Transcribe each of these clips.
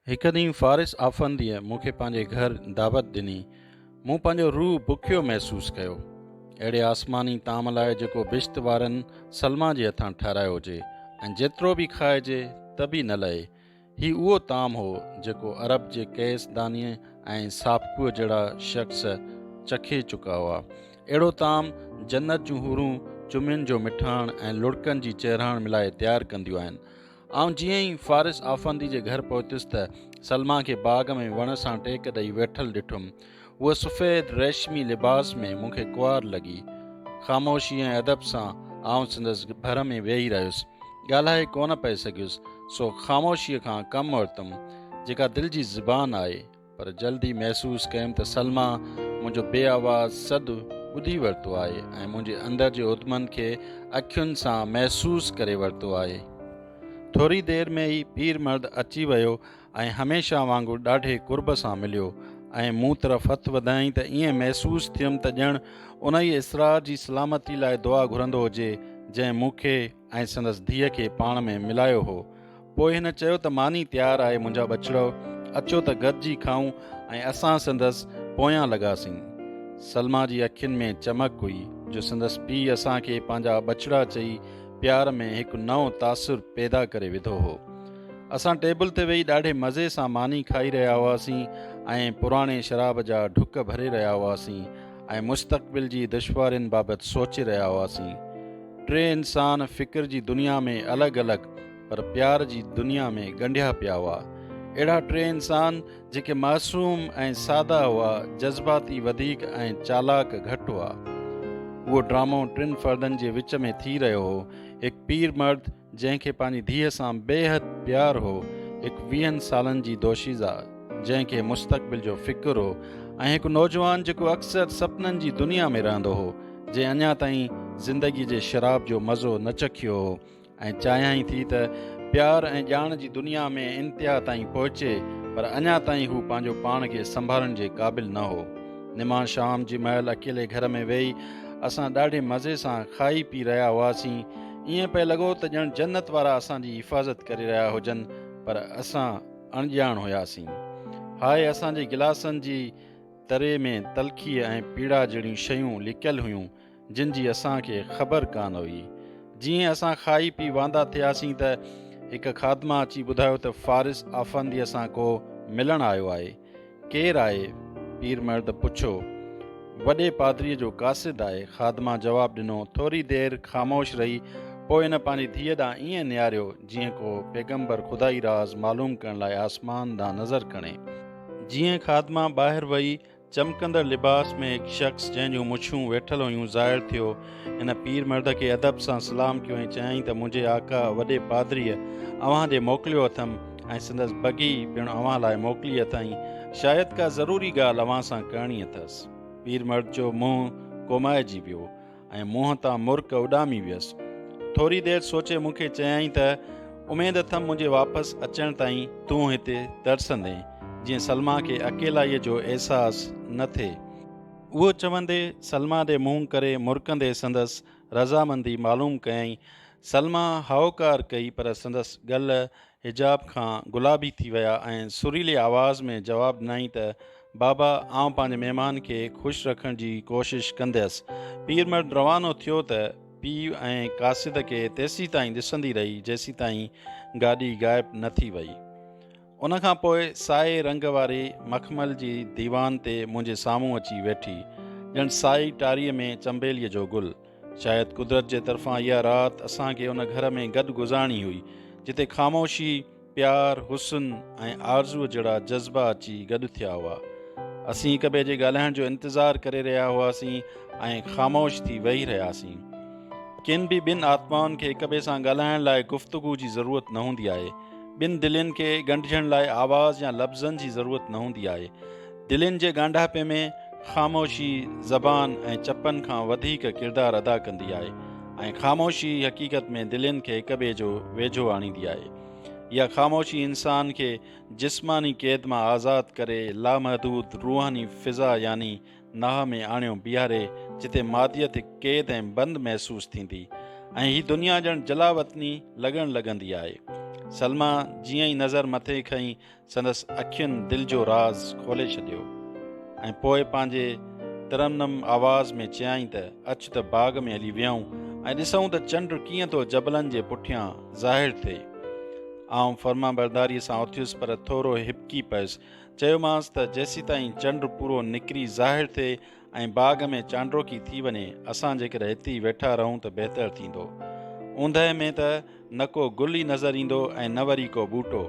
هڪ ڏينهن فارس آفنديء مون کي پنهنجي گهر دعوت ڏني. مون پنهنجو روح بکيو محسوس ڪيو. اهڙي آسماني طعام لاء جيڪو بهشت وارن سلميٰ جي هٿان ٺهرايو هجي ۽ جيترو به کائجي ته به نه لهي. هي اهو طعام هو جيڪو عرب جي قيس دانيء ۽ سابقوء جهڙا شخص چکي چڪا هئا. اهڙو طعام جنت جون حورون چمين جو مٺاڻ ۽ لڙڪن جي چيرهاڻ ملائي تيار ڪنديون آهن. آئون جيئن ئي فارس آفندي جي گهر پهتس ته سلميٰ کي باغ ۾ وڻ سان ٽيڪ ڏئي ويٺل ڏٺم. هوء سفيد ريشمي لباس ۾ مون کي ڪنوار لڳي. خاموشي ۽ ادب سان آئون سندس ڀر ۾ ويهي رهيس. ڳالهائي ڪونه پئي سگهيس، سو خاموشيء کان ڪم ورتم، جيڪا دل جي زبان آهي. پر جلد ئي محسوس ڪيم ته سلميٰ منهنجو بي آواز سڏ ٻڌي ورتو آهي ۽ منهنجي اندر جي اڌمن کي اکين سان محسوس ڪري ورتو آهي. ٿوري دير ۾ ئي پير مرد اچي ويو ۽ هميشه وانگر ڏاڍي قرب سان مليو ۽ مون طرف هٿ وڌائين ته ائين محسوس ٿيم ته ڄڻ انهيء اسرار جي سلامتي لاء دعا گهرندو هجي جنهن مون کي ۽ سندس ڌيء کي پاڻ ۾ ملايو هو. پوء هن چيو ته ماني تيار آهي منهنجا ٻچڙؤ اچو ته گڏجي کائون ۽ اسان سندس پويان لڳاسين. سلميٰ جي اکين ۾ چمڪ هئي جو سندس پيء اسان کي پنهنجا ٻچڙا چئي پيار ۾ هڪ نئون تاثر پيدا ڪري وڌو هو. اسان ٽيبل تي ويهي ڏاڍي مزي سان ماني کائي رهيا هئاسين ۽ پراڻي شراب جا ڍڪ ڀري رهيا هئاسين ۽ مستقبل جي دشوارين بابت سوچي رهيا هئاسين. ٽي انسان فڪر جي دنيا ۾ الڳ الڳ پر پيار جي دنيا ۾ ڳنڍيا پيا هئا. اهڙا ٽي انسان جيڪي معصوم ۽ سادا هئا، جذباتي وڌيڪ ۽ چالاڪ گهٽ هئا. اهو ڊرامو ٽن فردن جي وچ ۾ ٿي رهيو هو، هڪ پير مرد، جنهن کي پنهنجي ڌيء سان بيحد پيار هو، هڪ ويهن سالن جي دوشيزه جنهن کي مستقبل جو فڪر هو ۽ هڪ نوجوان جيڪو اڪثر سپنن جي دنيا ۾ رهندو هو، جنهن اڃا تائين زندگي جي شراب جو مزو نه چکيو هو ۽ چاهيائين ٿي ته پيار ۽ ڄاڻ جي دنيا ۾ انتها تائين پهچي پر اڃا تائين هو پنهنجو پاڻ کي سنڀالڻ جي قابل نه هو. نماڻ شام جي مهل اڪيلي گهر ۾ ويهي اسان ڏاڍي مزي سان کائي پي رهيا هئاسين، ائين پئي لڳو ته ڄڻ جنت وارا اسان جي حفاظت ڪري رهيا هجن پر اسان اڻڄاڻ هياسين. هاء اسان جي گلاسن جي تري ۾ تلخيء ۽ پيڙا جهڙيون شيون لڪيل هيون جن جي اسان کي خبر ڪانه هئي. جيئن اسان کائي پي واندا ٿياسين ته هڪ خادمه اچي ٻڌايو ته فارس آفنديء سان ڪو ملڻ آيو آهي. ڪير آهي؟ پير مرد پڇيو. وڏي پادريء جو قاصد آهي. خادمه جواب ڏنو. ٿوري دير خاموش رهي، پوء هن پنهنجي ڌيء ڏانهن ائين نهاريو، جيئن ڪو پيغمبر خدائي راز معلوم ڪرڻ لاء آسمان ڏانهن نظر کڻي. جيئن خادمه ٻاهر وئي، چمڪندڙ لباس ۾ هڪ شخص، جنهن جون مڇون ويٺل هيون، ظاهر ٿيو. ان پير مرد کي ادب سان سلام ڪيو ۽ چيائين ته منهنجي آقا وڏي پادريء اوهان ڏي موڪليو اٿم ۽ سندس بگي پڻ اوهان لاء موڪلي اٿائين، شايد ڪا ضروري ڳالهه اوهان سان ڪرڻي اٿس. پير مرد جو منهن ڪومائجي ويو ۽ منهن تان مرڪ اڏامي ويس. ٿوري دير سوچي مون کي چيائين ته اميد اٿم منهنجي واپس اچڻ تائين تون هتي ترسندين، جيئن سلميٰ کي اڪيلائيء جو احساس نه ٿئي. اهو چوندي سلميٰ ڏي منهن ڪري مرڪندي سندس رضامندي معلوم ڪيائين. سلميٰ هائوڪار ڪئي پر سندس ڳل حجاب کان گلابي ٿي ويا ۽ سريلي آواز ۾ جواب ڏنائين ته، بابا آئون پنهنجي مهمان کي خوش رکڻ جي ڪوشش ڪنديس. پيرمرد روانو ٿيو ته پيء ۽ قاصد کي تيسيتائين ڏسندي رهي جيسيتائين گاڏي غائب نه ٿي وئي. ان کان پوء سائي رنگ واري مخمل جي ديوان تي منهنجي سامهون اچي ويٺي، ڄڻ سائي ٽاريء ۾ چنبيليء جو گل. شايد قدرت جي طرفان اها رات اسان کي ان گهر ۾ گڏ گذارڻي هئي، جتي خاموشي، پيار، حسن ۽ آرزوء جهڙا جذبا اچي گڏ ٿيا هئا. اسين هڪٻئي جي ڳالهائڻ جو انتظار ڪري رهيا هئاسين ۽ خاموش ٿي ويهي رهياسين. ڪن به ٻن آتمائن کي هڪٻئي سان ڳالهائڻ لاء گفتگو جي ضرورت نه هوندي آهي، ٻن دلين کي ڳنڍجڻ لاء آواز يا لفظن جي ضرورت نه هوندي آهي. دلين جي ڳانڍاپي ۾ خاموشي زبان ۽ چپن کان وڌيڪ ڪردار ادا ڪندي آهي ۽ خاموشي حقيقت ۾ دلين کي هڪ ٻئي جو ويجهو آڻيندي آهي. اها خاموشي انسان کي جسماني قيد مان آزاد ڪري لامحدود روحاني فضا يعني ناهه ۾ آڻيو بيهاري جتي ماديت هڪ قيد ۽ بند محسوس ٿيندي ۽ هي دنيا ڄڻ جلاوطني لڳڻ لڳندي آهي. سلميٰ جيئن ئي نظر مٿي کنئي سندس اکين دل جو راز کولي ڇڏيو ۽ پوء پنهنجي ترنم آواز ۾ چيائين ته اچ ته باغ ۾ هلي ويهون ۽ ڏسون ته چنڊ ڪيئن ٿو جبلن جي پٺيان ظاهر ٿئي. آئون فرمانبرداريء سان اٿيس پر ٿورو هٻڪي پيس چيومانس ته جيسيتائين چنڊ پورو نڪري ظاهر ٿئي ۽ باغ ۾ چانڊروڪي ٿي وڃي، اسان جيڪر هتي ئي ويٺا رهون ته بهتر ٿيندو. اوندهه ۾ ته نه ڪو گل ئي نظر ايندو ۽ نه وري ڪو ٻوٽو.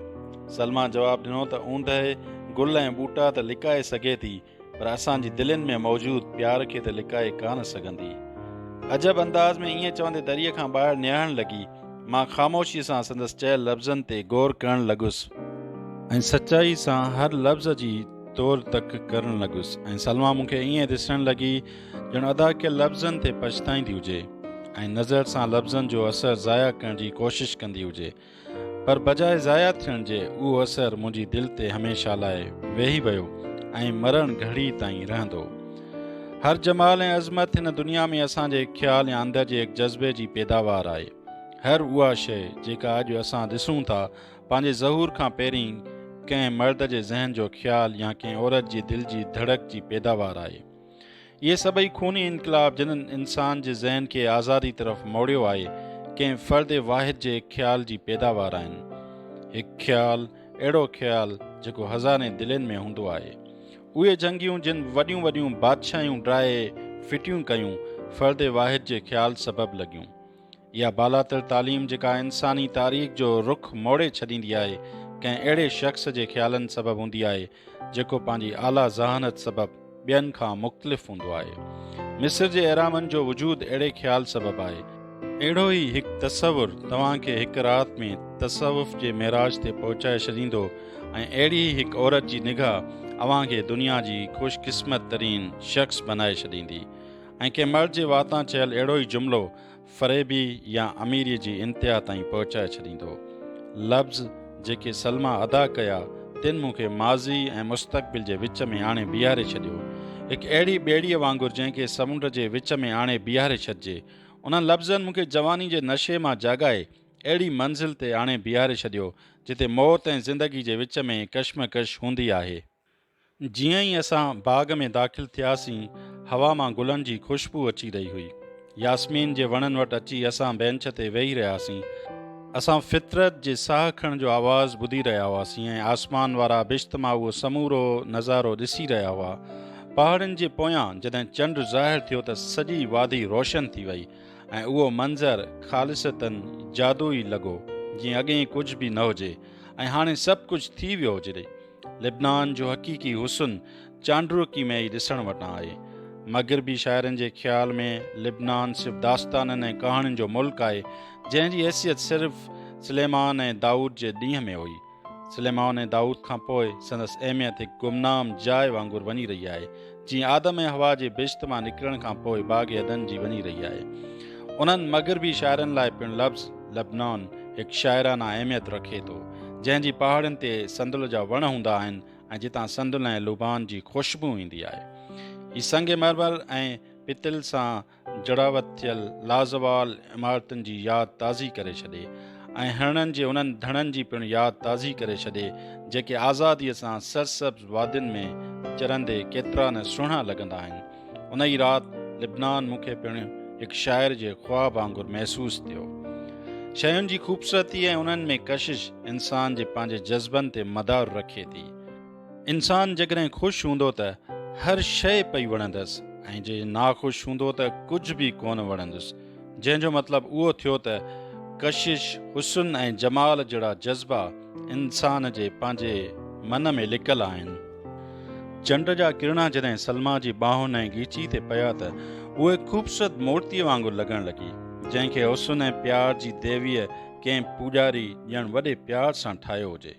سلما جواب ڏنو ته اوندهه گل ۽ ٻوٽا ته لڪائي سگهي ٿي، پر اسان جي دلين ۾ موجود پيار کي ته لڪائي ڪانه سگهندي. عجب انداز ۾ ائين چوندي دريء کان ٻاهر نهاڻ لڳي. مان خاموشيء سان سندس چيل لفظن تي غور ڪرڻ لڳس ۽ سچائي سان هر لفظ جي تور تڪ ڪرڻ لڳس ۽ سلما مون کي ائين ڏسڻ لڳي ڄڻ ادا ڪيل لفظن تي پڇتائيندي هجي ۽ نظر سان لفظن جو اثر ضايع ڪرڻ جي ڪوشش ڪندي هجي پر بجاء ضايع ٿيڻ جي اهو اثر منهنجي دل تي هميشه لاء ويهي ويو ۽ مرڻ گهڙي تائين رهندو. هر جمال ۽ عظمت هن دنيا ۾ اسان جي خيال يا اندر جي هڪ جذبي جي پيداوار آهي. هر اها شيء جيڪا اڄ اسان ڏسون ٿا، پنهنجي ظهور کان پهرين ڪنهن مرد جي ذهن جو خيال يا ڪنهن عورت جي دل جي ڌڙڪ جي پيداوار آهي. اهي سڀئي خوني انقلاب جنن انسان جي ذهن کي آزادي طرف موڙيو آهي، ڪنهن فرد واحد جي هڪ خيال جي پيداوار آهن. هڪ خيال، اهڙو خيال جيڪو هزارين دلين ۾ هوندو آهي. اهي جنگيون جن وڏيون وڏيون بادشاهيون ڊاهي ڦٽيون ڪيون، فرد واحد جي خيال سبب لڳيون. اها بالاتر تعليم جيڪا انساني تاريخ جو رخ موڙي ڇڏيندي آهي، ڪنهن اهڙي شخص جي خيالن سبب هوندي آهي، جيڪو پنهنجي اعليٰ ذهانت سبب ٻين کان مختلف هوندو آهي. مصر جي اهرامن جو وجود اهڙي خيال سبب آهي. اهڙو ئي هڪ تصور توهان کي هڪ رات ۾ تصوف جي معراج تي پهچائي ڇڏيندو ۽ اهڙي ئي هڪ عورت جي نگاهه اوهان کي دنيا جي خوش قسمت ترين شخص بنائي ڇڏيندي ۽ ڪنهن مرد جي واتان چيل اهڙو ئي جملو فريبي يا اميريء جي انتها تائين پهچائي ڇڏيندو. لفظ جيڪي سلميٰ ادا ڪيا تن مون کي ماضي ۽ مستقبل جي وچ ۾ آڻي بيهاري ڇڏيو. هڪ اهڙي ٻيڙيء وانگر جنهن کي سمنڊ جي وچ ۾ آڻي بيهاري ڇڏجي. انهن لفظن مون کي جواني جي نشي مان جاڳائي اهڙي منزل تي آڻي بيهاري ڇڏيو، جتي موت ۽ زندگي جي وچ ۾ ڪشمڪش هوندي آهي. جيئن ئي اسان باغ ۾ داخل ٿياسين، هوا مان گلن جي خوشبو اچي رهي هئي. ياسمين جي وڻن وٽ اچي اسان بينچ تي ويهي رهياسين. اسان فطرت جي ساهه کڻڻ جو آواز ٻڌي رهيا هئاسين ۽ آسمان وارا بشت مان اهو سمورو نظارو ڏسي رهيا هئا. پهاڙن جي پويان جڏهن چنڊ ظاهر ٿيو ته سڄي وادي روشن ٿي وئي ۽ اهو منظر خالصتاً جادوئي لڳو، جيئن اڳيئي ڪجهه به نه هجي ۽ هاڻي سڀ ڪجهه ٿي ويو هجري. لبنان جو حقيقي حسن چانڊوڪي ۾ ئي ڏسڻ وٽان آهي. مغربي شاعرن جي خيال ۾ لبنان صرف داستانن ۽ ڪهاڻين جو ملڪ آهي، جنهن جي حيثيت صرف سليمان ۽ دائود جي ڏينهن ۾ هئي. سليمان ۽ دائود کان پوء سندس اهميت هڪ گمنام جاء وانگر وڃي رهي آهي، جيئن آدم ۽ حوا جي بهشت مان نڪرڻ کان پوء باغ عدن جي وڃي رهي آهي. انهن مغربي شاعرن لاء پڻ لفظ لبنان هڪ شاعرانه اهميت رکي ٿو، جنهن جي پهاڙين تي صندل جا وڻ هوندا آهن ۽ جتان صندل ۽ لوبان جي خوشبو ايندي آهي. هي سنگ مرمر ۽ پتل سان جڙاوت ٿيل لازوال عمارتن جي ياد تازي ڪري ڇڏي ۽ هرڻن جي انهن ڌڻن جي پڻ ياد تازي ڪري ڇڏي جيڪي آزاديء سان سرسبز وادين ۾ چرندي ڪيترا نه سهڻا لڳندا آهن. ان ئي رات لبنان مون کي پڻ هڪ شاعر جي خواب وانگر محسوس ٿيو. شين جي خوبصورتي ۽ انهن ۾ ڪشش انسان جي پنهنجي جذبن تي مدار رکي ٿي. انسان جيڪڏهن خوش هوندو ته هر شيء پئي وڻندس ۽ جي ناخوش هوندو ته ڪجهه به ڪونه وڻندس، جنهن جو مطلب اهو ٿيو ته ڪشش، حسن ۽ جمال جهڙا جذبا انسان جي پنهنجي من ۾ لڪل آهن. چنڊ جا ڪرڻا جڏهن سلما جي ٻانهن ۽ ڳيچي تي پيا ته اهي خوبصورت مورتيء وانگر لڳڻ لڳي، جنهن کي حسن ۽ پيار جي ديويء ڪنهن پوڄاري ڄڻ وڏي پيار سان ٺاهيو هجي.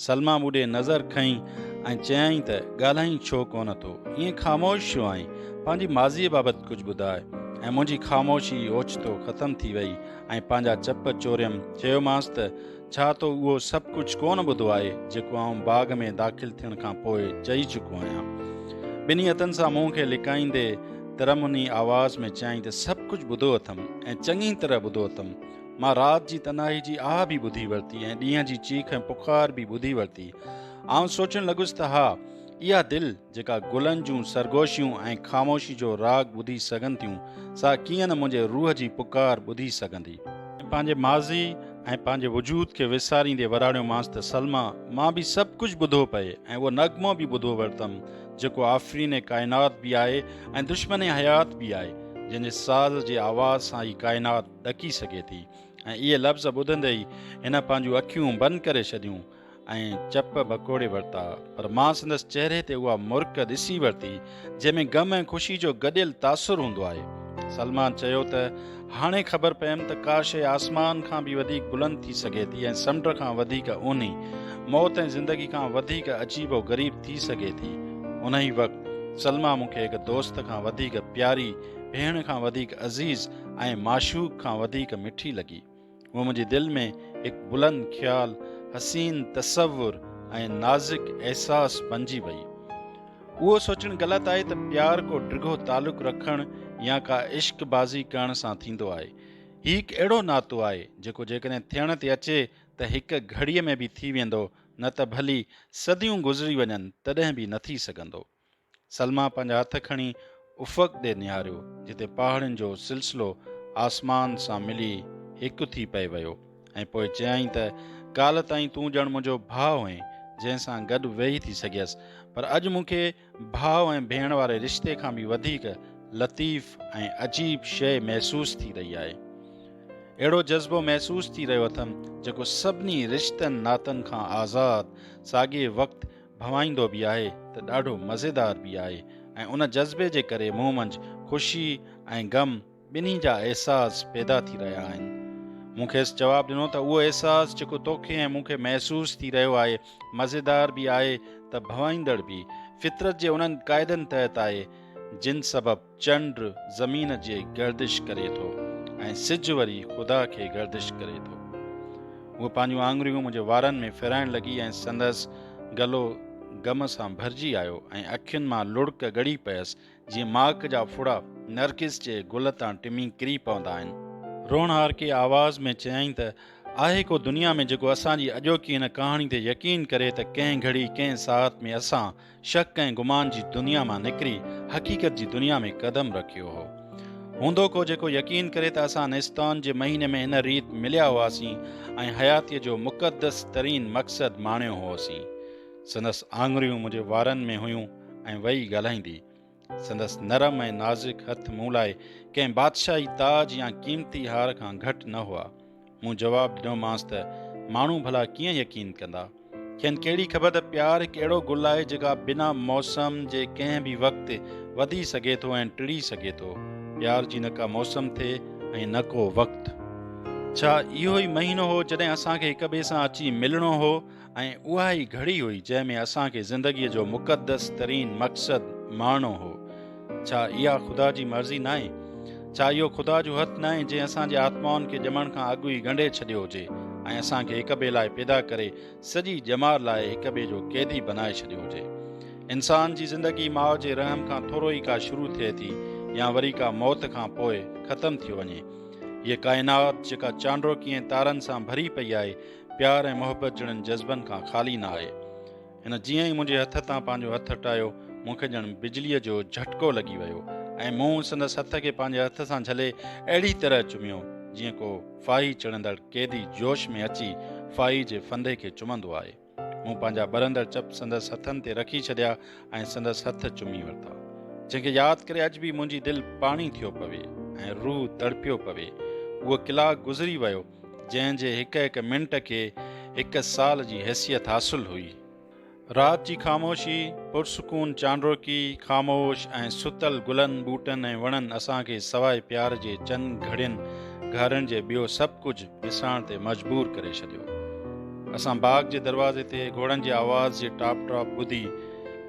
سلميٰ مون ڏي نظر کنئي ۽ چيائين ته ڳالهائين ڇو ڪونه ٿو؟ ائين خاموش ڇو آهين؟ پنهنجي ماضيء بابت ڪجهه ٻڌاء. ۽ منهنجي خاموشي اوچتو ختم ٿي ويئي ۽ پنهنجا چپ چوريم. چيومانس ته ڇا تو اهو سڀ ڪجهه ڪونه ٻڌو آهي، جيڪو آئون باغ ۾ داخل ٿيڻ کان پوء چئي چڪو آهيان؟ ٻنهي هٿن سان منهن کي لڪائيندي ترنموني آواز ۾ چيائين ته سڀ ڪجهه ٻڌو اٿم ۽ چڱي طرح ٻڌو اٿم. مان رات جي تنهائي جي آهه به ٻڌي ورتي ۽ ڏينهن جي چيخ ۽ پڪار به ٻڌي ورتي. آئون سوچڻ لڳس ته ها، اها دل جيڪا گلن جون سرگوشيون ۽ خاموشي جو راڳ ٻڌي سگهن ٿيون، سا ڪيئن نه منهنجي روح جي پڪار ٻڌي سگهندي. پنهنجي ماضي ۽ پنهنجي وجود کي وساريندي وراڻيومانس ته سلميٰ، مان به سڀ ڪجهه ٻڌو پئي ۽ اهو نغمو به ٻڌو ورتم، جيڪو آفرين ڪائنات به آهي ۽ دشمن حيات به آهي، جنهن جي ساز جي آواز سان ئي ڪائنات، ڏڪي سگهي ٿي ۽ اهي لفظ ٻڌندي ئي هن پنهنجون اکيون بند ڪري ڇڏيون ۽ چپ ڀڪوڙي ورتا پر مان سندس چهري تي اها مرڪ ڏسي ورتي جنهن ۾ غم ۽ خوشي جو گڏيل تاثر هوندو آهي. سلمان چيو ته هاڻي خبر پيم ته ڪا شيء آسمان کان به وڌيڪ بلند ٿي سگهي ٿي ۽ سمنڊ کان وڌيڪ اونهي، موت ۽ زندگي کان وڌيڪ عجيب و غريب ٿي سگهي ٿي. انهي وقت سلمان مون کي هڪ دوست کان وڌيڪ پياري، ڀيڻ کان وڌيڪ عزيز، ۽ معشوق کان وڌيڪ مٺي لڳي. هوء منهنجي دل ۾ هڪ بلند خيال، حسين تصور ۽ نازڪ احساس بنجي وئي. اهو سوچڻ غلط آهي ته پيار ڪو ڊگهو تعلق رکڻ يا ڪا عشق بازي ڪرڻ سان ٿيندو آهي. هي هڪ اهڙو ناتو آهي، جيڪو جيڪڏهن ٿيڻ تي اچي ته هڪ گهڙيء ۾ به ٿي ويندو، نه ته ڀلي صديون گذري وڃن تڏهن به نه ٿي سگهندو. سلميٰ پنهنجا هٿ کڻي افق ڏي نهاريو، جتي پهاڙين جو سلسلو آسمان سان ملي هڪ ٿي پئي ويو ۽ پوء چيائين ته ڪالهه تائين تون ڄڻ منهنجو ڀاء هئين، جنهن سان گڏ ويهي ٿي سگهيس، پر اڄ مون کي ڀاء ۽ ڀيڻ واري رشتي کان به وڌيڪ لطيف ۽ عجيب شيء محسوس ٿي رهي آهي. اهڙو جذبو محسوس ٿي رهيو اٿم، جيڪو سڀني رشتن ناتن کان آزاد، ساڳئي وقت ڀوائيندو به آهي ته ڏاڍو مزيدار به آهي ۽ ان جذبي جي ڪري مون منجھ خوشي ۽ غم ٻنهي جا احساس پيدا ٿي رهيا آهن. مون کيس جواب ڏنو ته اهو احساس جيڪو توکي ۽ مون کي محسوس ٿي رهيو آهي مزيدار به آهي ته ڀوائيندڙ به فطرت جي انهن قاعدن تحت آهي جن سبب چنڊ زمين جي گردش ڪري ٿو ۽ سج وري خدا کي گردش ڪري ٿو. هوء پنهنجون آڱريون منهنجي وارن ۾ ڦيرائڻ لڳي ۽ سندس گلو غم سان ڀرجي آيو ۽ اکين مان لڙڪ ڳڙي پيس جيئن ماڪ جا ڦڙا نرگس جي گل تان ٽمي ڪري پوندا آهن. روئڻهارڪي آواز ۾ چيائين ته، آهي ڪو دنيا ۾ جيڪو اسان جي اڄوڪي هن ڪهاڻي تي يقين ڪري ته ڪنهن گهڙي ڪنهن ساعت ۾ اسان، شڪ ۽ گمان جي دنيا مان نڪري حقيقت جي دنيا ۾ قدم رکيو هو. هوندو ڪو جيڪو يقين ڪري ته اسان نستان جي مهيني ۾ هن ريت مليا هئاسين ۽ حياتيء جو مقدس ترين مقصد ماڻيو هئوسين. سندس آڱريون منهنجي وارن ۾ هيون ۽ وئي ڳالهائيندي. سندس نرم ۽ نازڪ هٿ مون لاء ڪنهن بادشاهي تاج يا قيمتي هار کان گهٽ نه هئا. مون جواب ڏنومانس ته ماڻهو ڀلا ڪيئن يقين ڪندا؟ کين ڪهڙي خبر ته پيار هڪ اهڙو گل آهي جيڪا بنا موسم جي ڪنهن به وقت وڌي سگهي ٿو ۽ ٽڙي سگهي ٿو. پيار جي نه ڪا موسم ٿئي ۽ نه ڪو وقت. ڇا اهو ئي مهينو هو جڏهن اسان کي هڪ ٻئي سان اچي ملڻو هو؟ ۽ اها ئي گهڙي هئي جنهن ۾ اسان کي زندگيء جو مقدس ترين مقصد ماڻڻو هو. ڇا اها خدا جي مرضي ناهي؟ ڇا اهو خدا جو هٿ ناهي جنهن اسان جي آتمائن کي ڄمڻ کان اڳ ئي ڳنڍي ڇڏيو هجي ۽ اسان کي هڪ ٻئي لاء پيدا ڪري سڄي ڄمار لاء هڪ ٻئي جو قيدي بنائي ڇڏيو هجي؟ انسان جي زندگي ماء جي رحم کان ٿورو ئي ڪا شروع ٿئي ٿي يا وري ڪا موت کان پوء ختم ٿي وڃي. هيء ڪائنات جيڪا چانڊوڪيين تارن سان ڀري پئي آهي، پيار ۽ محبت جهڙن جذبن کان خالي نه آهي. هن جيئن ئي منهنجي هٿ تان پنهنجو هٿ هٽايو، مون کي ڄڻ بجليء جو جهٽڪو لڳي ويو ۽ مون سندس هٿ کي پنهنجي هٿ سان جهلي اهڙي طرح چميو، جيئن ڪو ڦاهي چڙهندڙ قيدي جوش ۾ اچي ڦاهي جي ڦندي کي چمندو آهي. مون پنهنجا ٻرندڙ چپ سندس هٿن تي رکي ڇڏيا ۽ سندس هٿ چمي ورتا، جنهن کي ياد ڪري اڄ به منهنجي دل پاڻي ٿيو پوي ۽ روح تڙپيو پوي. اهو ڪلاڪ گذري ويو. جنهن جي هڪ هڪ منٽ کي هڪ سال جي حيثيت حاصل هئي. رات جي خاموشي، پرسڪون چانڊوڪي، خاموش ۽ ستل گلن، ٻوٽن ۽ وڻن اسان کي سواء پيار جي چند گهڙين گهارڻ جي ٻيو سڀ ڪجهه وساڻ تي مجبور ڪري ڇڏيو. اسان باغ جي دروازي تي گهوڙن جي آواز جي ٽاپ ٽاپ ٻڌي،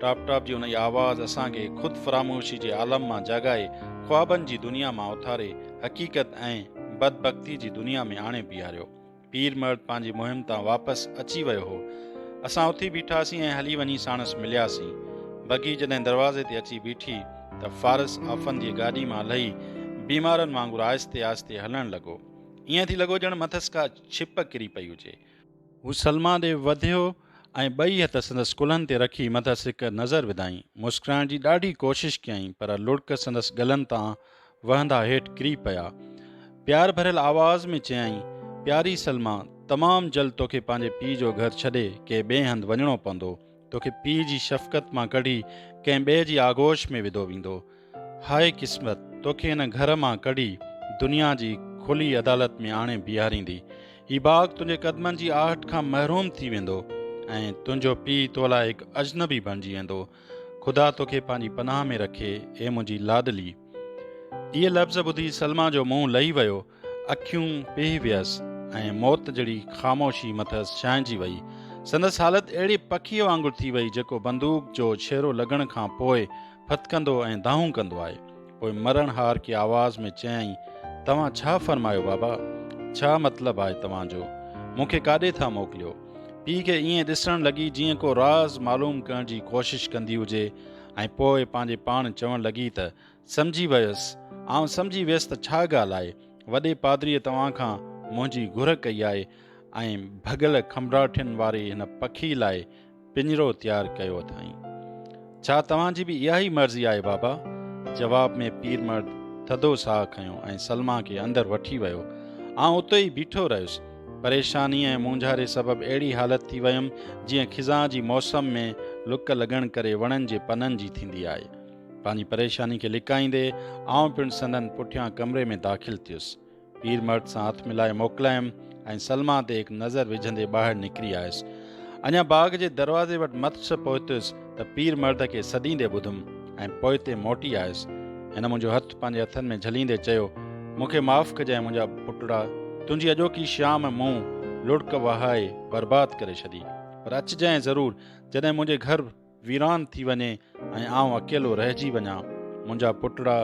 ٽاپ ٽاپ جي انهيء آواز اسان کي خود فراموشي جي عالم مان جاڳائي، خوابن جي دنيا مان اٿاري، حقيقت ۽ بدبختي جي دنيا ۾ آڻي بيهاريو. پير مرد پنهنجي مهم تان واپس اچي ويو هو. اسان اٿي بيٺاسين ۽ هلي وڃي ساڻس ملياسين. بگي جڏهن دروازي تي اچي بيٺي ته فارس آفنديء گاڏي مان لهي بيمارن وانگر آهستي آهستي هلڻ لڳو. ائين ٿي لڳو ڄڻ مٿس ڪا ڇپ ڪري پئي هجي. هو سلما ڏي وڌيو ۽ ٻئي هٿ سندس ڪلهن تي رکي مٿس هڪ نظر وڌائين. مسڪرائڻ جي ڏاڍي ڪوشش ڪيائين پر لڙڪ سندس ڳلن تان وهندا هيٺ ڪري پيا. پيار ڀريل آواز ۾ چيائين، پياري سلميٰ! تمام جلد توکي پنهنجي پيء جو گهر ڇڏي ڪنهن ٻئي هنڌ وڃڻو پوندو. توکي پيء جي شفقت مان ڪڍي ڪنهن ٻئي جي آغوش ۾ وڌو ويندو. هاء قسمت! توکي هن گهر مان ڪڍي دنيا جي کلي عدالت ۾ آڻي بيهاريندي. هي باغ تنهنجي قدمن جي آهٽ کان محروم ٿي ويندو ۽ تنهنجو پيء تو لاء هڪ اجنبي بڻجي ويندو. خدا توکي پنهنجي پناهه ۾ رکي اي منهنجي لاڏلي. اهي لفظ ٻڌي سلما جو منهن لهي ويو، اکيون پيهي ويس ۽ موت جهڙي خاموشي مٿس ڇانئجي وئي. سندس حالت اهڙي پکيء وانگر ٿي وئي جيڪو بندوق جو ڇيرو لڳڻ کان پوء ڦٿڪندو ۽ دانهون ڪندو آهي. پوء مرڻ هار ڪي آواز ۾ چيائين، توهان ڇا فرمايو بابا؟ ڇا مطلب آهي توهان جو؟ مون کي ڪاڏي ٿا موڪليو؟ پيء کي ائين ڏسڻ لڳي جيئن ڪو راز معلوم ڪرڻ جي ڪوشش ڪندي هجي ۽ پوء پنهنجي پاڻ چوڻ لڳي ته، سمجهي ويس، آئون سمجهي ويس ته ڇا ڳالهه آهي، وڏي پادريء توهان کان منهنجي گهر ڪئي آهي ۽ ڀڳل کنڀراٺين واري هن پکي لاء پڃرو تيار ڪيو اٿائين. ڇا توهان جي به اها ئي مرضي آهي بابا؟ جواب ۾ پير مرد ٿڌو ساهه کنيو ۽ سلميٰ کي اندر وٺي ويو. آئون اتي ئي بيٺو رهيس. پريشاني ۽ مونجهاري سبب اهڙي حالت ٿي ويم جيئن خزان جي موسم ۾ لڪ لڳڻ ڪري وڻن جي پنن جي ٿيندي آهي. پنهنجي پريشاني کي لڪائيندي آئون پڻ سندن پٺيان ڪمري ۾ داخل ٿيس. پير مرد سان هٿ ملائي موڪلايم ۽ سلما تي هڪ نظر وجهندي ٻاهر نڪري آيس. اڃا باغ جي دروازي وٽ مٿس پهتس ته پير مرد کي سڏيندي ٻڌم ۽ پوئتي موٽي آيس. هن منهنجو هٿ پنهنجي هٿن ۾ جهليندي چيو، مون کي معاف ڪجانء منهنجا پٽڙا، تنهنجي اڄوڪي شام مون لڙڪ وهائي برباد ڪري ڇڏي. پر اچجانء ضرور جڏهن منهنجي گهر ويران ٿي وڃي ۽ آئون اڪيلو رهجي وڃان. منهنجا پٽڙا،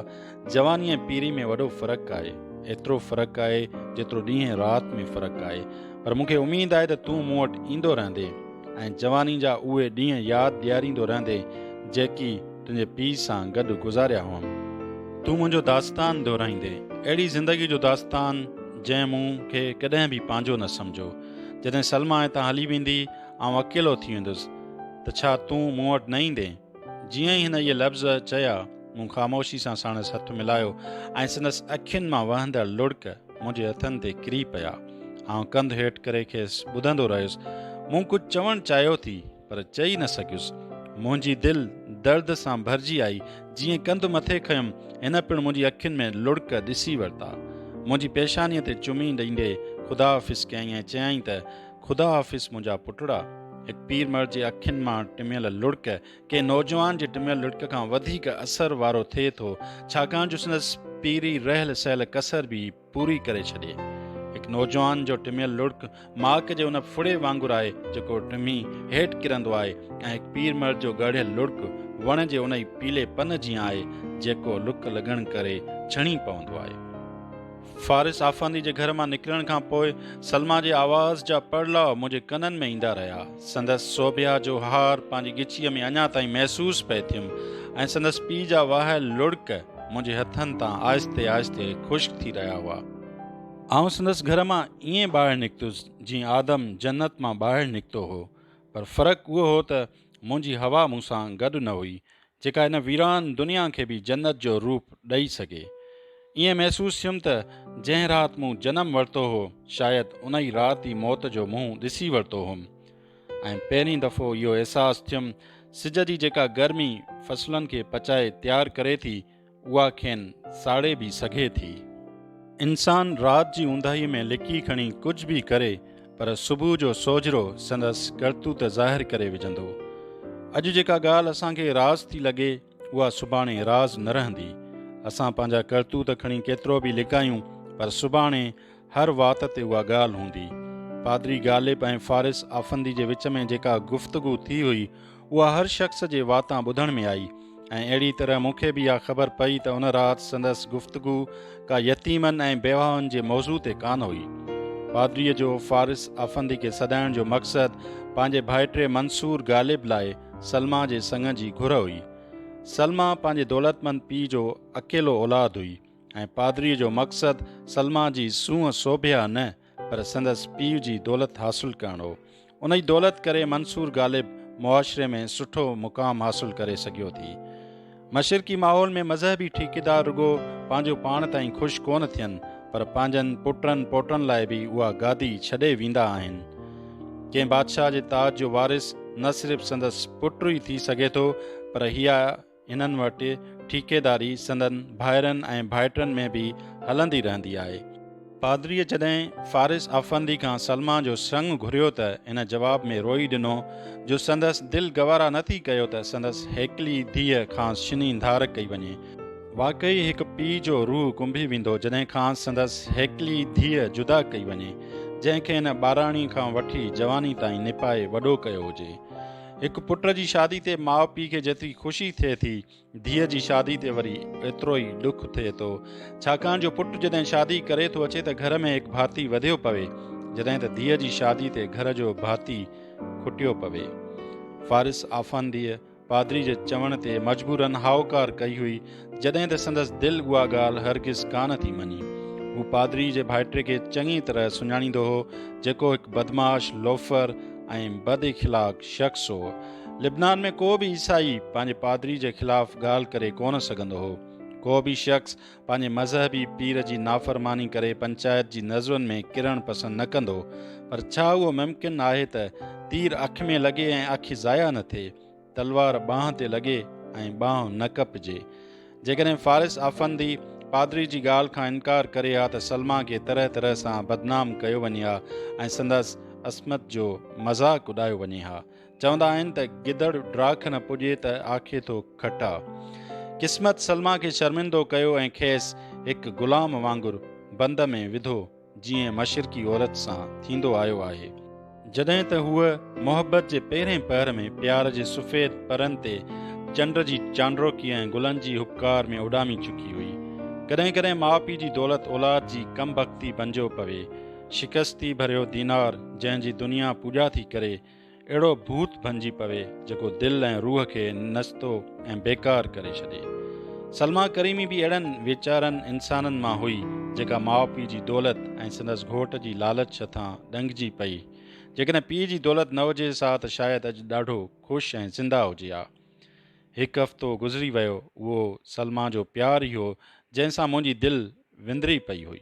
جواني ۽ پيري ۾ وڏو فرق آهي. ايترو فرق آهي، جيترو ڏينهن رات ۾ فرق آهي. پر مون کي اميد آهي ته تون مون وٽ ايندو رهندين ۽ جواني جا اهي ڏينهن ياد ڏياريندو رهندين، جيڪي تنهنجي پيء سان گڏ گذاريا هئم. تون منهنجو داستان دهرائيندين، اهڙي زندگي جو داستان، جنهن مون کي ڪڏهن به پنهنجو نه سمجهيو. جڏهن سلميٰ هتان هلي ويندي، آئون اڪيلو ٿي ويندس ته ڇا تون مون وٽ نه ايندين؟ جيئن ئي هن اهي لفظ چيا، مون خاموشي سان ساڻس هٿ ملايو ۽ سندس اکين مان وهندڙ لڙڪ منهنجي هٿن تي ڪري پيا. آئون ڪنڌ هيٺ ڪري کيس ٻڌندو رهيس. مون ڪجهه چوڻ چاهيو ٿي پر چئي نه سگهيس. منهنجي دل درد سان ڀرجي آئي. جيئن ڪنڌ مٿي کنيم، هن پڻ منهنجي اکين ۾ لڙڪ ڏسي ورتا. منهنجي پيشانيء تي چمي ڏيندي خداحافظ ڪيائين ۽ چيائين ته، خدا حافظ منهنجا پٽڙا. هڪ پير مڙد جي اکين مان ٽميل لڙڪ ڪنهن نوجوان جي ٽميل لڙڪ کان وڌيڪ اثر وارو ٿئي ٿو، ڇاڪاڻ جو سندس پيري رهيل سهيل ڪسر به پوري ڪري ڇڏي. هڪ نوجوان جو ٽميل لڙڪ ماڪ جي ان ڦڙي وانگر آهي جيڪو ٽمي هيٺ ڪرندو آهي ۽ هڪ پير مڙد جو ڳاڙهيل لڙڪ وڻ جي انهي پيلي پن جيان آهي جيڪو لڪ لڳڻ ڪري ڇڻي پوندو آهي. فارس آفندي جي گهر مان نڪرڻ کان پوء سلميٰ جي آواز جا پڙلاء منهنجي ڪنن ۾ ايندا رهيا. سندس سوڀيا جو هار پنهنجي ڳچيء ۾ اڃا تائين محسوس پئي ٿيم ۽ سندس پيء جا وهايل لڙڪ منهنجي هٿن تان آهستي آهستي خشڪ ٿي رهيا هئا. آئون سندس گهر مان ائين ٻاهر نڪتس جيئن آدم جنت مان ٻاهر نڪتو هو، پر فرق اهو هو ته منهنجي حوا مون سان گڏ نه هئي، جيڪا هن ويران دنيا کي به جنت جو روپ ڏئي سگهي. ائين محسوس ٿيم ته جنهن رات مون جنم ورتو هو، شايد ان ئي رات ئي موت جو منهن ڏسي ورتو هوم ۽ پهرين دفعو اهو احساس ٿيم سج جي جيڪا گرمي فصلن کي پچائي تيار ڪري ٿي، اها کين ساڙي به سگهي ٿي. انسان رات جي اونداهي ۾ لڪي کڻي ڪجهه به ڪري پر صبح جو سوجهرو سندس ڪرتوت ظاهر ڪري وجهندو. اڄ جيڪا ڳالهه اسان کي راز ٿي لڳي اها سڀاڻي راز نه رهندي. اسان پنهنجا ڪرتوت کڻي ڪيترو به لڪايون پر سڀاڻي هر وات تي اها ڳالهه هوندي. پادري غالب ۽ فارس آفندي جي وچ ۾ جيڪا گفتگو ٿي هئي، اها هر شخص جي واتان ٻڌڻ ۾ آئي ۽ اهڙي طرح مون کي به اها خبر پئي ته ان رات سندس گفتگو ڪا يتيمن ۽ بيواهن جي موضوع تي ڪانه هئي. پادريء جو فارس آفندي کي سڏائڻ جو مقصد پنهنجي ڀائٽي منصور غالب لاء سلميٰ جي سڱ جي گهر هئي. سلميٰ پنهنجي دولتمند پيء جو اڪيلو اولاد هئي. ۽ پادريء جو مقصد سلما جي سونهن سوڀيا نه پر سندس پيء جي دولت حاصل ڪرڻ هو. انهي دولت ڪري منصور غالب معاشري ۾ سٺو مقام حاصل ڪري سگهيو ٿي. مشرقي ماحول ۾ مذهبي ٺيڪيدار رڳو پنهنجو پاڻ تائين خوش ڪونه ٿين پر پنهنجن پٽن پوٽن لاء به اها گادي ڇڏي ويندا آهن. ڪنهن بادشاهه جي تاج جو وارث نه صرف سندس پٽ ئي ٿي سگهي ٿو پر هيء هنن وٽ ٺيڪيداري سندن ڀائرن ۽ ڀائٽن ۾ به هلندي رهندي آهي. پادريء جڏهن فارس آفندي کان سلميٰ جو سڱ گهريو ته هن جواب ۾ روئي ڏنو جو سندس دل گوارا نه ٿي ڪيو ته سندس هيڪلي ڌيء کانئس شني ڌار ڪئي وڃي. واقعي هڪ پيء جو روح ڪنبي ويندو جڏهن کانئس سندس هيڪلي ڌيء جدا ڪئي وڃي، جنهن کي هن ٻاراڻي کان وٺي جواني تائين نپائي وڏو ڪيو هجي. هڪ پٽ جي شادي تي ماء پيء کي جيتري خوشي ٿئي ٿي، ڌيء جي شادي تي وري ايترو ئي ڏک ٿئي ٿو. ڇاڪاڻ جو پٽ جڏهن شادي ڪري ٿو اچي ته گهر ۾ هڪ ڀاتي وڌيو پوي، جڏهن ته ڌيء جي شادي تي گهر جو ڀاتي کٽيو پوي. فارس آفنديء پادري جي چوڻ تي مجبورن هائوڪار ڪئي هئي جڏهن ته سندس دل اها ڳالهه هرگز ڪانه ٿي مڃي. هو پادري جي ڀائٽي کي چڱي طرح سڃاڻيندو هو، جيڪو هڪ بدمعاش، لوفر ۽ بد اخلاق شخص هو. لبنان ۾ ڪو به عيسائي پنهنجي پادري جي خلاف ڳالهه ڪري ڪونه سگهندو هو. ڪو به شخص پنهنجي مذهبي پير جي نافرماني ڪري پنچائت جي نظرن ۾ ڪرڻ پسند نه ڪندو. پر ڇا اهو ممڪن آهي ته تير اک ۾ لڳي ۽ اک ضايع نه ٿئي؟ تلوار ٻانهن تي لڳي ۽ ٻانهن نه ڪپجي. جيڪڏهن فارس آفندي پادري جي ڳالهه کان انڪار ڪري ها ته سلميٰ کي طرح طرح سان بدنام ڪيو وڃي ها ۽ سندس عصمت جو مذاق اڏايو وڃي ها. چوندا آهن ته گدڙ ڊاک نه پڄي ته آکي ٿو کٽا. قسمت سلميٰ کي شرمندو ڪيو ۽ کيس هڪ غلام وانگر بند ۾ وڌو جيئن مشرقي عورت سان ٿيندو آيو آهي. جڏهن ته هوء محبت جي پهرين پهر ۾ پيار جي سفيد پرن تي چنڊ جي چانڊروڪي ۽ گلن جي هٻڪار ۾ اڏامي چڪي هئي. ڪڏهن ڪڏهن ماء پيء جي دولت اولاد جي ڪم بختي بنجو پوي. شڪستي ڀريو دينار جنهن جي دنيا پوڄا ٿي ڪري. اهڙو ڀوت بنجي پوي جيڪو دل ۽ روح کي نستو ۽ بيڪار ڪري ڇڏي. سلميٰ ڪريمي به اهڙن ويچارن انسانن مان هئي جيڪا ماء پيء جي دولت ۽ سندس گهوٽ جي لالچ هٿان ڏنگجي پئي. جيڪڏهن پيء جي دولت نه هجي ها ته شايد اڄ ڏاڍو خوش ۽ زنده هجي ها. هڪ هفتو گذري ويو اهو سلميٰ جو پيار ئي هو جنهن سان منهنجي دل وندري پئي هئي.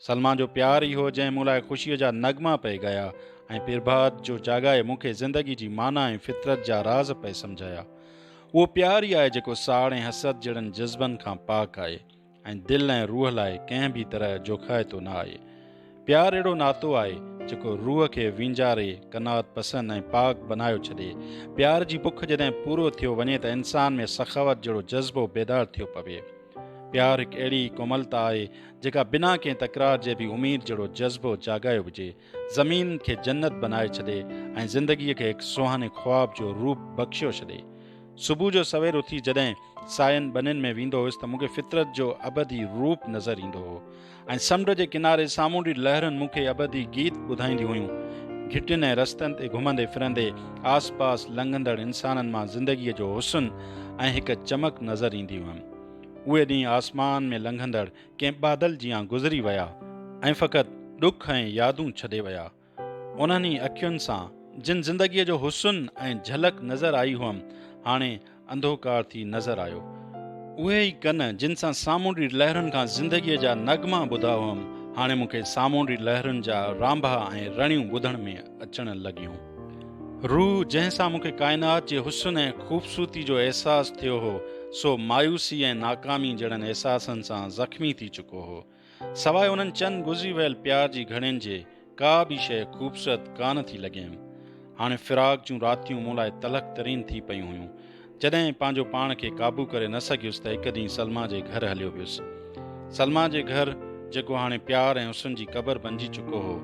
سلما جو پيار ئي هو جنهن مون لاء خوشيء جا نغما پئي ڳايا ۽ پرڀات جو جاڳائي مون کي زندگي جي معنيٰ ۽ فطرت جا راز پئي سمجهايا. اهو پيار ئي آهي جيڪو ساڙ ۽ حسد جهڙن جذبن کان پاڪ آهي ۽ دل ۽ روح لاء ڪنهن به طرح جوکائتو نه آهي. پيار اهڙو ناتو آهي، جيڪو روح کي وينجاري، قناعت پسند ۽ پاڪ بنايو ڇڏي. پيار جي بک جڏهن پورو ٿيو وڃي ته انسان ۾ سخاوت جهڙو جذبو بيدار ٿيو پوي. پيار هڪ اهڙي ڪوملتا آهي، جيڪا بنا ڪنهن تڪرار جي به اميد جهڙو جذبو جاڳايو وجهي، زمين کي جنت بنائي ڇڏي ۽ زندگيء کي هڪ سهاني خواب جو روپ بخشيو ڇڏي. صبح جو سوير اٿي جڏهن ساين ٻنين ۾ ويندو هيس ته مون کي فطرت جو ابدي روپ نظر ايندو هو. ۽ سمنڊ جي ڪناري سامونڊي لهرن مون کي ابدي گيت ٻڌائينديون هيون. گهٽين ۽ رستن تي گهمندي ڦرندي آس پاس لنگهندڙ انسانن مان زندگيء جو حسن ۽ هڪ چمڪ نظر ايندي هئم. اهي ڏينهن آسمان ۾ لنگهندڙ ڪنهن بادل جيان گذري ويا ۽ فقط ڏک ۽ يادون ڇڏي ويا. انهن ئي اکين سان جن زندگيء جو حسن ۽ جهلڪ نظر آئي هئم، هاڻي انڌوڪار ٿي نظر آيو. اهي ئي ڪن جن سان سامونڊي لهرن کان زندگيء جا نغما ٻڌا هئم، هاڻي مون کي سامونڊي لهرن جا رانڀا ۽ رڻيون ٻڌڻ ۾ اچڻ لڳيون. روح جنهن سان مون کي ڪائنات جي حسن ۽ خوبصورتي جو احساس ٿيو هو، سو مايوسي ۽ ناڪامي جهڙن احساسن سان زخمي ٿي چڪو هو. سواء انهن چند گذري ويل پيار جي گهڙين جي ڪا به شيء خوبصورت ڪانه ٿي لڳيم. هاڻي فراق جون راتيون مون لاء تلخ ترين ٿي پيون هيون. جڏهن پنهنجو پاڻ کي قابو ڪري نه سگهيس ته هڪ ڏينهن سلميٰ جي گهر هليو ويس. سلميٰ جي گهر جيڪو هاڻي پيار ۽ حسن جي قبر بنجي چڪو هو.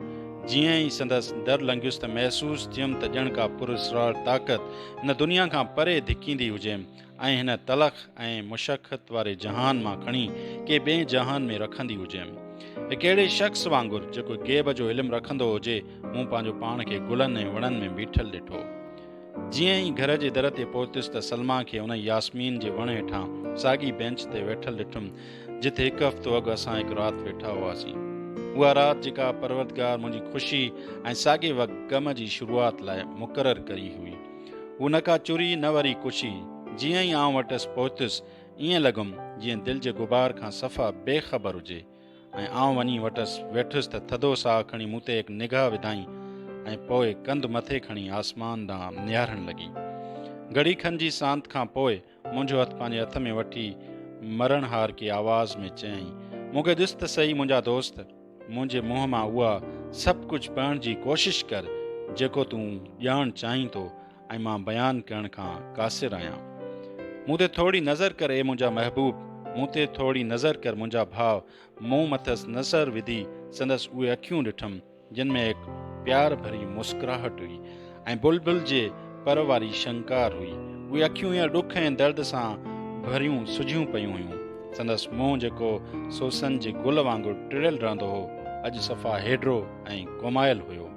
جيئن ئي سندس در لنگهيس ته محسوس ٿيم ته ڄڻ ڪا پراسرار طاقت هن دنيا کان پري ڌڪيندي هجيم. ۽ هن تلخ ۽ مشقت واري جهان مان کڻي ڪي ٻئي جهان ۾ رکندي هجيم. هڪ اهڙي شخص وانگر جيڪو غيب جو علم رکندو هجي، مون پنهنجو پاڻ کي گلن ۽ وڻن ۾ بيٺل ڏٺو. جيئن ئي گهر جي در تي پهتس ته سلميٰ کي انهي ياسمين جي وڻ هيٺان ساڳي بينچ تي ويٺل ڏٺم، جتي هڪ هفتو اڳ اسان هڪ رات ويٺا هئاسين. اها رات جيڪا پروردگار منهنجي خوشي ۽ ساڳي وقت غم جي شروعات لاء مقرر ڪئي هئي. هو نه ڪا چري نه وري ڪشي. جيئن ئي آئون وٽس پهتس ائين لڳم جيئن دل جي غبار کان صفا بي خبر هجي ۽ آئون وڃي وٽس ويٺس ته ٿڌو ساهه کڻي مون تي هڪ نگاهه وڌائين ۽ پوء ڪنڌ مٿي کڻي آسمان ڏانهن نهارڻ لڳي. گهڙي کن جي سانت کان پوء منهنجو هٿ پنهنجي هٿ ۾ وٺي مرڻ هار ڪي آواز ۾ چيائين، مون کي ڏس ته سهي منهنجا دوست، منهنجي منهن مان اها سڀ ڪجهه پڙهڻ جي ڪوشش ڪر جيڪو تون ڄاڻڻ چاهين ٿو ۽ مان بيان ڪرڻ کان قاصر آهيان. مون تي ٿورڙي نظر ڪر اي منهنجا محبوب، مون تي ٿورڙي نظر ڪر منهنجا ڀاء، مون مٿس نصر وڌي سندس اهي اکيون ڏٺم، جن ۾ هڪ پيار ڀري مسڪراهٽ هئي ۽ بلبل جي پر واري شنڪار هئي. اهي اکيون هينئر ڏک ۽ درد سان ڀريون سجهيون پيون هيون. سندس منهن جيڪو سوسن جي گل وانگر ٽڙيل رهندو هو، اڄ صفا هيڊرو ۽ گومايل هيو.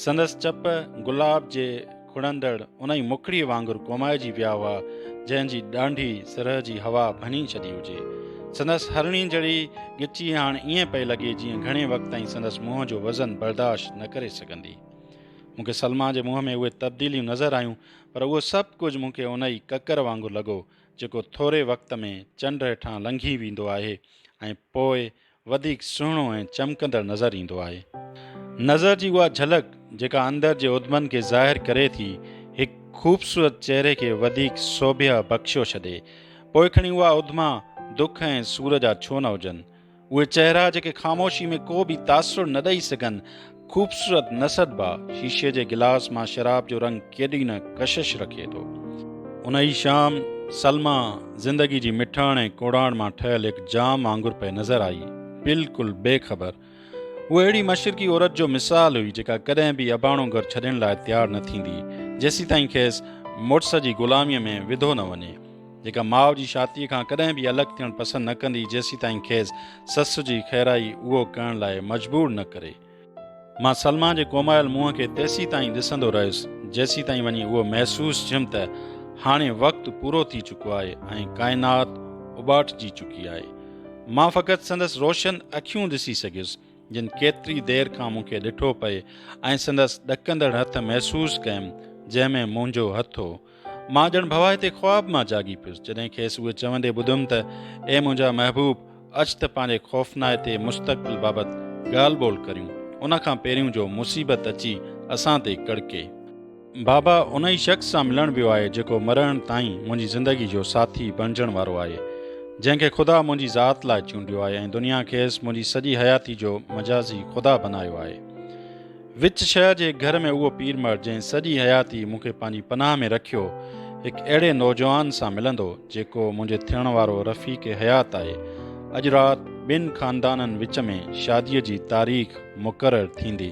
سندس چپ گلاب جي کڙندڙ ان ئي مکڙيء وانگر ڪومائجي ويا هئا، جنهن جي ڏانڍي سرء جي هوا ڀڃي ڇڏي هجي. سندس هرڻي جڙي ڳچي هاڻ ائين پئي لڳي جيئن گهڻي وقت تائين سندس منهن جو وزن برداشت نه ڪري سگهندي. مون کي سلما جي منهن ۾ اهي تبديليون نظر آيون، پر اهو سڀ ڪجهه مون کي ان ئي ڪڪر وانگر لڳو، جيڪو ٿوري وقت ۾ چنڊ هيٺان لنگهي ويندو آهي ۽ پوء وڌيڪ سهڻو ۽ چمڪندڙ نظر ايندو آهي. نظر جي اها جهلڪ جيڪا اندر جي اڌمن کي ظاهر ڪري ٿي، هڪ خوبصورت چهري کي وڌيڪ سوڀيه بخشيو ڇڏي. پوء کڻي اها اڌما دک ۽ سور جا ڇو نه هجن. اهي چهرا جيڪي خاموشي ۾ ڪو به تاثر نه ڏئي سگهن، خوبصورت نسد با شيشي جي گلاس مان شراب جو رنگ ڪيڏي نه ڪشش رکي ٿو. ان ئي شام سلميٰ زندگي جي مٺاڻ ۽ ڪوڙاڻ مان ٺهيل هڪ جام وانگر پئي نظر آئي. بلڪل بي خبر. هوء اهڙي مشرقي عورت جو مثال هئي جيڪا ڪڏهن به اباڻو گهر ڇڏڻ لاء تيار نه ٿيندي جيسيتائين کيس مڙس جي غلاميء ۾ وڌو نه وڃي. جيڪا ماء جي شاتيء کان ڪڏهن به الڳ ٿيڻ پسند نه ڪندي جيسيتائين کيس سس جي خيرائي اهو ڪرڻ لاء مجبور نه ڪري. مان سلما جي ڪومايل منهن کي تيسيتائين ڏسندو رهيس جيسيتائين وڃي اهو محسوس ٿيم ته هاڻي وقت پورو ٿي چڪو آهي ۽ ڪائنات اٻاٽجي چڪي آهي. مان فقط سندس روشن اکيون ڏسي سگهيس جن ڪيتري دير کان مون کي ڏٺو پئي ۽ سندس ڏڪندڙ هٿ محسوس ڪيم جنهن ۾ منهنجو هٿ هو. مان ڄڻ ڀوائتي خواب مان جاڳي پيس، جڏهن کيس اهي چوندي ٻڌم ته، اي منهنجا محبوب! اچ ته پنهنجي خوفنائتي مستقبل بابت ڳالهه ٻولهه ڪريون، ان کان پهريون جو مصيبت اچي اسان تي ڪڙڪي. بابا ان ئي شخص سان ملڻ ويو آهي، جيڪو مرڻ تائين منهنجي زندگي جو ساٿي بڻجڻ وارو آهي، جنهن کي خدا منهنجي ذات لاء چونڊيو آهي ۽ دنيا کيس منهنجي سڄي حياتي جو مجازي خدا بنايو آهي. وچ شهر جي هڪ گهر ۾ اهو پير مرد جنهن سڄي حياتي مون کي پنهنجي پناهه ۾ رکيو، هڪ اهڙي نوجوان سان ملندو، جيڪو منهنجي ٿيڻ وارو رفيق حيات آهي. اڄ رات ٻن خاندانن وچ ۾ شاديء جي تاريخ مقرر ٿيندي.